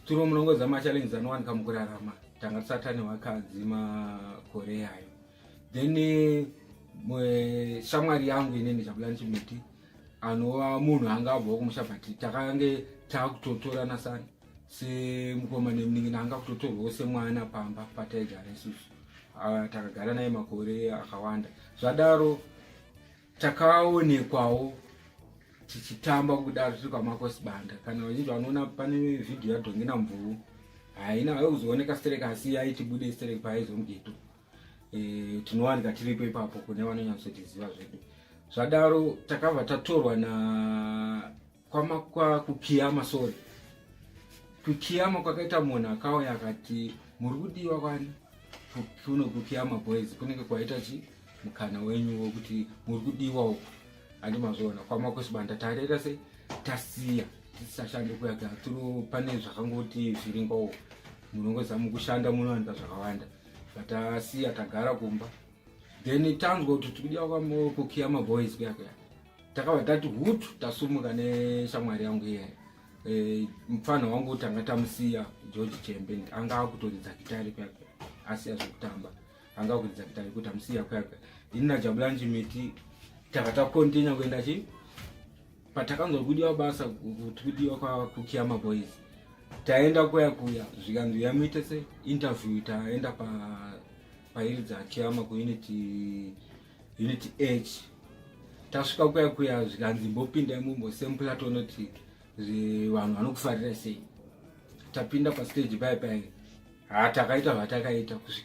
Turo munongoza machallenges anowanika mukurarama tanga tisati ane vakadzi makore ayo then eh, shamwari yangu ineni zhabulani chimiti anova munhu anga abvawo kumusha but takange takutotorana sani semukoma nemunin'ina anga kutotorwawo semwana pamba pataigara isusu ah, takagara naye makore akawanda zvadaro takaonekwawo tichitamba kudaro tiri kwamakosibanda kana vazhinji vanoona pane vhidhiyo yadhongina mvuvu haina haikuzooneka sterek asi yaitibude sterek paaizomgeto e, eh, tinowanika tiripo ipapo kune vanonyatsotiziva zvedu zvadaro takabva tatorwa na kwama kwa kukiyama sorry kukiyama kwakaita munhu akauya akati muri kudiwa kwani kuno kukiyama boys kunenge kwaita chi mukana wenyu wokuti muri kudiwa uku handi mazviona kwama kwesibanda tarera se tasiya tisashande kuyaga tiro pane zvakangoti zviringowo munongozama kushanda munowanika zvakawanda vatasiya tagara kumba then tanzwa kuti tikudiwa kwama kukiyama boys kuyakuya takabva tati hutu tasumuka neshamwari yangu iye e, mupfanha wangu tanga tamusiya george chembe anga akutoridza gitari kwakwe asiya zvekutamba anga akuridza gitari kuti amusiya kwakwe ini najabulanji miti tanga takontinya kuenda chi patakanzwa kudiwa basa kuti kudiwa kwakukiya maboys taenda kuya kuya zvikanzi yamuite se interview taenda pairi pa dzakiyama kuunity pa unit h tasvika kuya kuya zvikanzi mbopinda imumbo sempula tonoti vanhu vanokufarira sei tapinda pastage pai pai ha takaita zvatakaita kusvikira